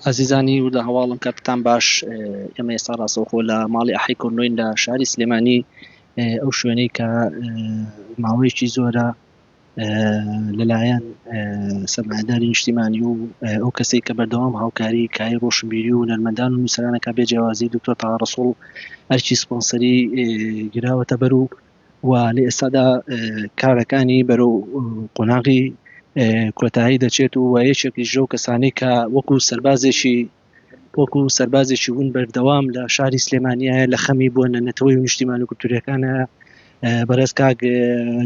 ئازیزانی وردە هەواڵم کاتتان باش ئێمە ئێستا ڕاستەوخۆ لە ماڵی ئەحی کۆنۆین لە شاری سلێمانی ئەو شوێنەی کە ماوەیەکی زۆرە لەلایەن سەرمایداری نیشتیمانی و ئەو کەسی کە بەردەوام هاوکاری کای ڕۆشنبیری و نەرمەندان و نووسرانەکە بێجیاوازی دکتۆر تاڕسوڵ ئەرکی سپۆنسەری گراوەتە بەر و و لە ئێستادا کارەکانی بەرەو قۆناغی کۆتایی دەچێت و یەکێکیش لەو کەسانەی کە وەکو سەربازێکی وەکو سەربازێکی ون بەردەوام لە شاری سلێمانیایە لە خەمی بۆ نەتەوەی و نیشتیمان و کولتوریەکانە بەڕێز کاک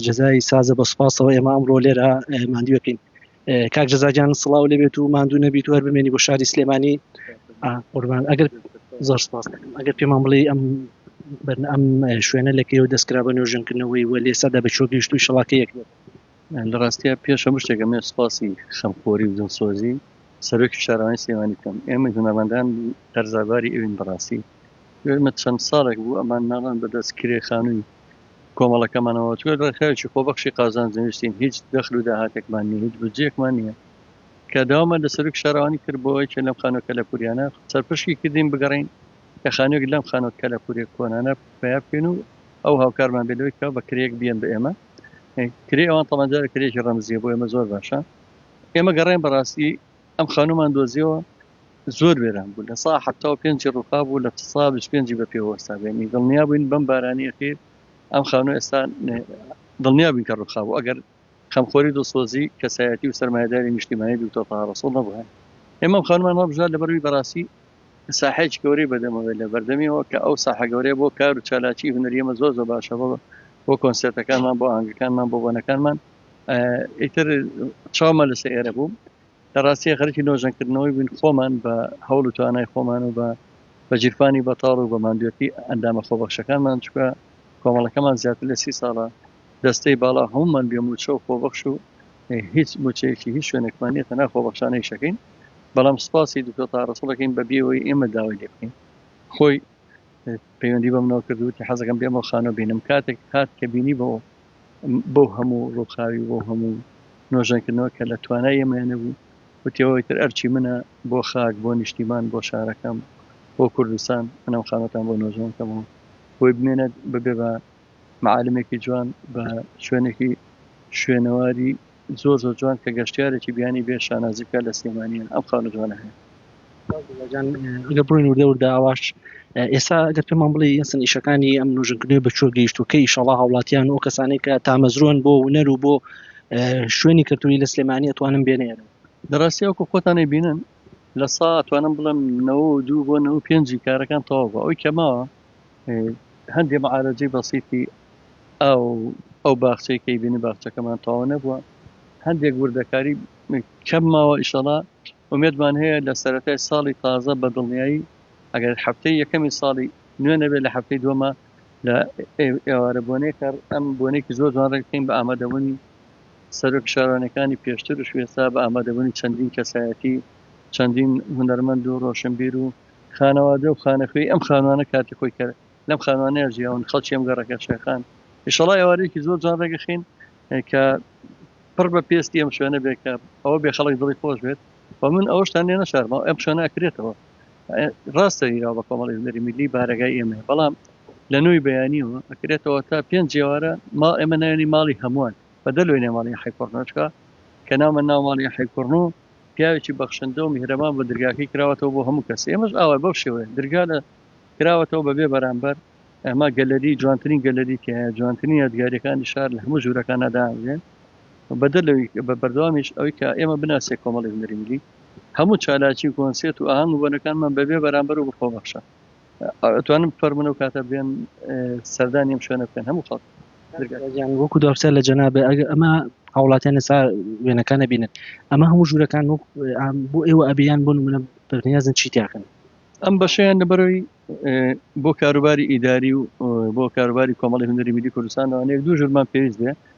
جەزای سازە بە سپاسەوە ئێمە ئەمڕۆ لێرە ماندوەکەین کاک جەزاگیان سڵاو لێبێت و ماندوو نەبیت و هەر بمێنی بۆ شاری سلێمانی قوربان ئەگەر زۆر سپاس ئەگەر پێمان بڵێ ئەم بەرن ئەم شوێنە لەکەی و دەستکرا بە نۆژنکردنەوەی وە لێ سەدا بە چۆ گەیشت و شڵاکە یەک لە ڕاستە پێش هەموو شتێکە مێ سپاسی خەمخۆری و جنسۆزی سەرۆکی شارەوانی سێوانی بکەم ئێمە هونەرمەندان هەرزاباری ئەوین بەڕاستی ئێمە چەند ساڵێک بوو ئەمان ناڵان بەدەست کرێ خانووی کۆمەڵەکەمانەوە توێ ڕێکخراوێکی خۆبەخشی قازانج نووسین هیچ دەخل و داهاتێکمان نییە هیچ بودجەیەکمان نییە کە داوامان لە سەرۆکی شارەوانی کرد بۆ یەکێ لەم خانووە کەلەپوریانە سەرپشکی کردین بگەڕین کە خانووێک لەم خانووە کەلەپورێک کۆنانە پیا بکەین و ئەو هاوکارمان بێت لەوەی کە بە کرێک بیەن بە ئێمە کرێ ئەوان تەمەجارە کرێکی ڕەمزیە بۆ ئێمە زۆر باشە ئێمە گەڕێن بەڕاستی ئەم خانومان دۆزیەوە زۆر وێران بوو لە سا حتا و پێنجی ڕووخا بوو لە سا پێنجی بە پێ وەستا بێنی دڵنیا بووین بەم بارانی ئەخیر ئەم خانوو ئێستا دڵنیا بووین کە ڕووخا بوو ئەگەر خەمخۆری دڵسۆزی کەسایەتی و سەرمایداری نیشتیمانی دوکتۆر تەها ڕەسوڵ نەبووە ئێمەم خانمان هەڵبژار لەبەروی بەڕاستی ساحەیەکی گەورەی بەدەمەوەی لە بەردەمیەوە کە ئەو ساحە گەورەیە بۆ کار و چالاکی هونەریەمە زۆر زۆر باشە بۆ بۆ کۆنسێرتەکانمان بۆ ئاهەنگەکانمان بۆ بۆنەکانمان ئیتر چاومە لەسە ئێرە بووم لە ڕاستیە خەرکی نۆژەنکردنەوەی بووین خۆمان بە هەوڵ و توانای خۆمان و بە بە جیرفانی بەتاڵ و بە مادوێتی ئەندامە خۆبەخشەکانمان چکە کۆمەڵەکەمان زیاتر لە سی ساڵە دەستەی باڵا هەمومان بێ موچە و خۆبەخش و هیچ موچەیەکی هیچ شوێنێکمان نیە تەنا خۆبەخشانەی شەکەین بەڵام سپاسی دکتۆر تاڕسڵەکەین بە بێەوەی ئێمە داوای لێ بکەین خۆی پەیوەندی بە منەوە کردوتی حەزەکەم بێمە خانۆ بینم کاتێک هات کە بینی بۆ بۆ هەموو ڕووخاوی بۆ هەموو نۆژەنکردنەوە کە لە توانای ئێمەیانە بوو وتەوەی تر ئەرچی منە بۆ خاک بۆ نیشتیمان بۆ شارەکەم بۆ کوردستان منەم خانەتان بۆ نۆژەنەکەمەوە بۆی بمێنێت ببێ بە معالمێکی جوان بە شوێنێکی شوێنەواری زۆر زۆر جوان کە گەشتیارێکی بیانی بێ شانازی بکات لە سلێمانیە ئەم خاونە جوانە هەیە. جان ئەگەر بڕۆین وردە وردە ئاواش ئێستا ئەگەر پێمان بڵێ یەسن ئیشەکانی ئەم نوژنکردنەوە بە چۆ گەیشت و کە ئیشەڵا هاوڵاتیان و کەسانێک کە تامەزرۆن بۆ ونەر و بۆ شوێنی کەلتوری لە سلێمانی ئەتوانم بێنێن دەڕاستی ئەوکو خۆتانەی بینن لە سا توانم بڵم نەوە دوو بۆ نەوە پێنجی کارەکان تەواو بە ئەوی کەماوە هەندێ معالەجەی بەسیتی ئاو ئەو باخچەی کەی بینی باخچەکەمان تەواو نەبووە هەندێک وردەکاری کەم ماوە ئیشەڵا ومێدمان هەیە لە سەرەتای ساڵی تازە بە دڵنیایی ئەگەر هەفتەی یەکەمی ساڵی نوێ نەبێت لە هەفتەی دومە لە ئێوارە بۆنێک ئەم بۆنێکی زۆر جوان ڕێکەین بە ئامادەبوونی سەرۆک شارانەکانی پێشتر و شوێسا بە ئامادەبوونی چەندین کەسایەتی چەندین هونەرمەند و ڕۆشنبیر و خانەوادە و خانەخوێی ئەم خانوانە کاتی خۆی کە لەم خانوانەیە ژیاون خەڵکی ئەم گەڕەکە شێخان ئیشەڵا ئێوارەیەکی زۆر جوان ڕێگەخین کە پڕ بە پێستی ئەم شوێنە بێ کە ئەوە بێ خەڵک دڵی خۆش بێت و من ئەوشتان لێ نەشارما ئەم شوێنە ئەکرێتەوە ڕاستە هیرا بە کۆمەڵی هونەری میلی بارەگای ئێمە بەڵام لە نوێی بەیانیەوە ئەکرێتەوە تا پێنج جێوارە ما ئێمە ناوێنی ماڵی هەمووان بە دەلوێنێ ماڵی حیکۆڕنۆچکە کە ناومە ناو ماڵی حیکوڕن و پیاوێکی بەخشندە و میهرەبان بووە درگاکەی کراوەتەوە بۆ هەموو کەس ئێمەش ئاوای بەو شێوەیە درگا لە کراوەتەوە بە بێ بەرامبەر ئەمە گەلەری جوانترین گەلەری تایە جوانترین یادگاریەکانی شار لە هەموو ژوورەکان ناداێن بەدە لەوی بە بەردەوامیش ئەوی کە ئێمە بناسێ کۆمەڵی هونەری ملی هەموو چالاکی و کۆنسێت و ئاهەنگ و بۆنەکانمان بەبێ بەرامبەر و بەخۆبەخشە ئەتوانم بفەرمونە و کاتە بێن سەردانی ئەم شوێنە بکەن هەموو خەڵک وەکو داپسە لە جەنابێ ئەگە ئەمە هاوڵاتیان نسا وێنەکانە بینن ئەمە هەموو ژوورەکان وەک بۆ ئێوە ئەبیان بۆ منە پرنیازن چی تاکەن ئەم بەشیان لەبەرەوەی بۆ کاروباری ئیداری و بۆ کاروباری کۆمەڵی هەندری میدی کوردستانەوەێک دوو ژورمان پێویست بێ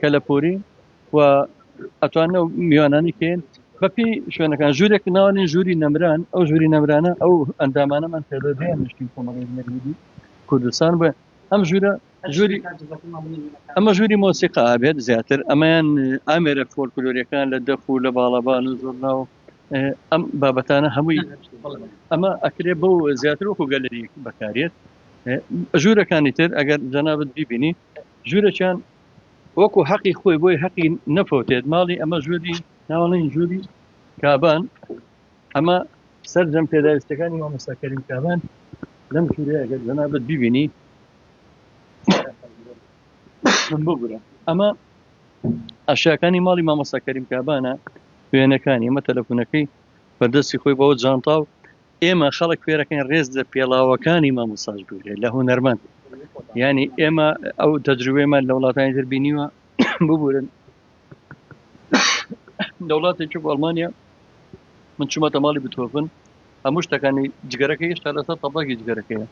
کەلەپوری و ئەتوانە میوانانی کەین بەپی شوێنەکان ژوورێک ناوانین ژووری نەمران ئەو ژووری نەمرانە ئەو ئەندامانەمان پێدەدەیان نشتین کۆمەڵی کوردستان بە ئەم ژوورە ژووری ئەمە ژووری مۆسیقا ئابێت زیاتر ئەمەیان ئامێرە فۆلکلۆریەکان لە دەف و لە باڵەبان و زۆرنا و ئەم بابەتانە هەمووی ئەمە ئەکرێ بۆ زیاتر وەکو گەلەری بەکارێت ژوورەکانی تر ئەگەر جەنابەت بیبینی ژوورەکیان وەکو حەقی خۆی بۆی حەقی نەفەوتێت ماڵی ئەمە ژووری ناوەڵین ژووری کابان ئەمە سەرجەم پێداویستەکانی مامۆستاکەریم کابان لەم ژوورە ئەگەر جەنابەت ببینی ببورە ئەمە ئەشیاکانی ماڵی مامۆستاکەریم کابانە وێنەکانی ئەمە تەلەفونەکەی بەردەستی خۆی بەوە جانتا و ئێمە خەڵک کوێرەکەین ڕێز لە پێڵاوەکانی مامۆساش بگرێت لە هونەرمەند ینی ئێمە ئەو تەجروێمان لە وڵاتانی تر بینیوە ببورن لە وڵاتێکی ئەڵمانیا من چوومەتە ماڵی بتۆفن هەموو شتەکانی جگەرەکە هێشتا لەسەر تەبڵاکی جگەرەکەیە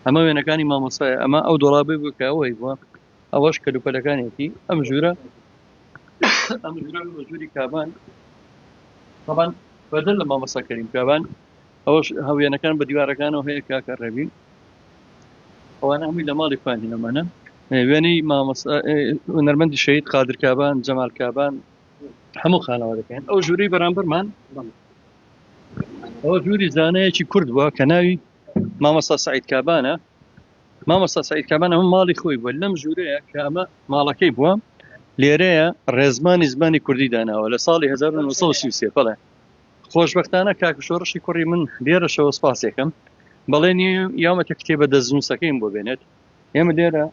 ئەمە وێنەکانی مامۆسای ئەمە ئەو دۆڵابێ بکەوەی بووە ئەوەش کەلوپەلەکانێتی ئەم ژوورە ئەم ژووری کابان طبعا بەدەر لە مامەسا کەریم کابان ئەوەش هەوێنەکان بە دیوارەکانەوە هەیە کاکە ڕێبین ئەوانە هەمووی لە ماڵی خوانی ئەمانە وێنەی مامەسا نەرمەندی شەید قادر کابان جەمال کابان هەموو خانەوە دەکەن ئەو ژووری بەرامبەرمان ئەوە ژووری زانەیەکی کورد بووە کە ناوی مامەسا سعید کابانە مامۆستا سعید کامەن ئەمە ماڵی خۆی بووە لەم ژوورەیە کە ئەمە ماڵەکەی بووە لێرەیە ڕێزمانی زمانی کوردی داناوە لە ساڵی 1930 بڵێ خۆشببختانە کاک شۆڕشی کوڕی من لێرەشەوە سپاسێکم بەڵێنی یامەتە کتێبە دەستنووسەکەیم بۆ بێنێت ئێمە لێرە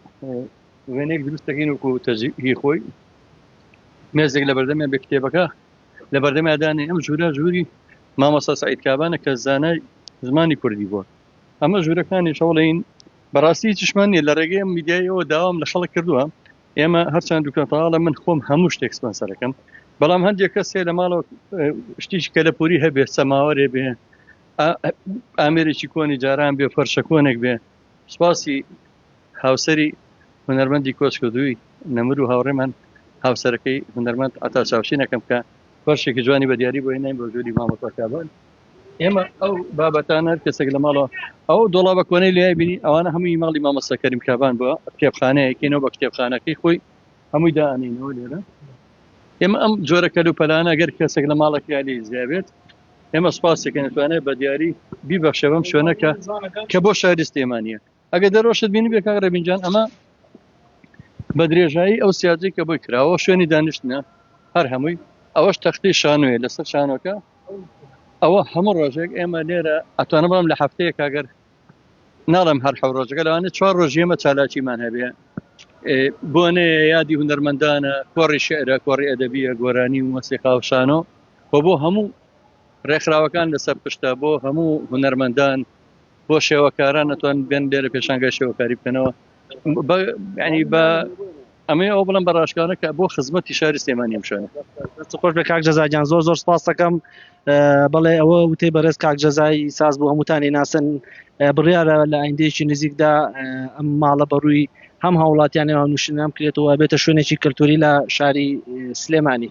وێنێک دروستەکەین وکو تەجیهی خۆی مێزێک لە بەردەمێ بە کتێبەکە لە بەردەمادانی ئەم ژوورە ژووری مامۆستا سعید کابانە کە زانای زمانی کوردی بووە ئەمە ژوورەکانیش هەوڵین بەڕاستی هیچشمان نیە لە ڕێگەی ئەم میدیای ئەوە داوام لە خەڵک کردووە ئێمە هەرچەند دوکەتاڵە من خۆم هەموو شتێک سپۆنسەرەکەم بەڵام هەندێک کەسێ لە ماڵەوە شتیش کە لە پوری هەبێ سەماوەێ بێ ئامێرێکی کۆنی جاران بێ فەرشە کۆنێک بێ سپاسی هاوسری هونەرمەندی کۆچکردووی نەمر و هاوڕێمان هاوسەرەکەی هونەرمەند ئەتا چاوشینەکەم کە فەرشێکی جوانی بە دیاری بۆ نای بۆ جووری مامەکەکبان ئێمە ئەو بابەتان هەر کەسێک لە ماڵەوە ئەو دۆڵابە کۆنەی لای بینی ئەوانە هەمووی ماڵی مامۆستا کەریم کابان بووە کتێبخانەیەکەینەوە بە کتێبخانەکەی خۆی هەمووی دانینەوە لێرە ئێمە ئەم جۆرە کەلوپەلانە گەر کەسێک لە ماڵێکی علی زیابێت ئێمە سپاسێکەکەن توانێت بە دیاری بیبەخشە بەم شوێنەکە کە بۆ شاری سلێمانە ئەگە دەرۆشت بینی بێ کاک ڕێبینجان ئەمە بە درێژایی ئەو سیاجی کە بۆی کراوە شوێنی دانیشتە هەر هەمووی ئەوەش تەختی شانوێ لەسەر شانۆکە ئەوە هەموو ڕۆژێک ئێمە لێرە ئەتوانە بڵم لە هەفتەیە کاگەر ناڵم هەر حە ڕۆژەکە لەوانە چوار ڕۆژیەمە چالاکیمان هەبێ بۆنێ یادی هوەرمەندانە کۆڕی شعرە کۆڕی ئەدەبیە گۆرانی و مەسیقا و شانۆ و بۆ هەموو ڕێکخراوەکان لەسەر پشتە بۆ هەموو هوەرمەندان بۆ شێوەکاران ئەتوان بێن لێرە پێشانگای شێوەکاری بکەنەوە ینی بە ئەمەی ئەو بڵم بەڕاشکانە کە بۆ خزمەتی شاری سلێمانی ئەم شوێنە خۆش بە کاک جەزاگیان زۆر زۆر سپاسەکەم بەڵێ ئەوە وتەی بەڕێز کاک جەزای ساز بۆ هەمووتانی ناسن بڕیارە لە ئایندەیەکی نزیکدا ئەم ماڵە بەڕووی هەم هاوڵاتیان نێوان نووشنام کرێتەوە بێتە شوێنێکی کەلتوری لە شاری سلێمانی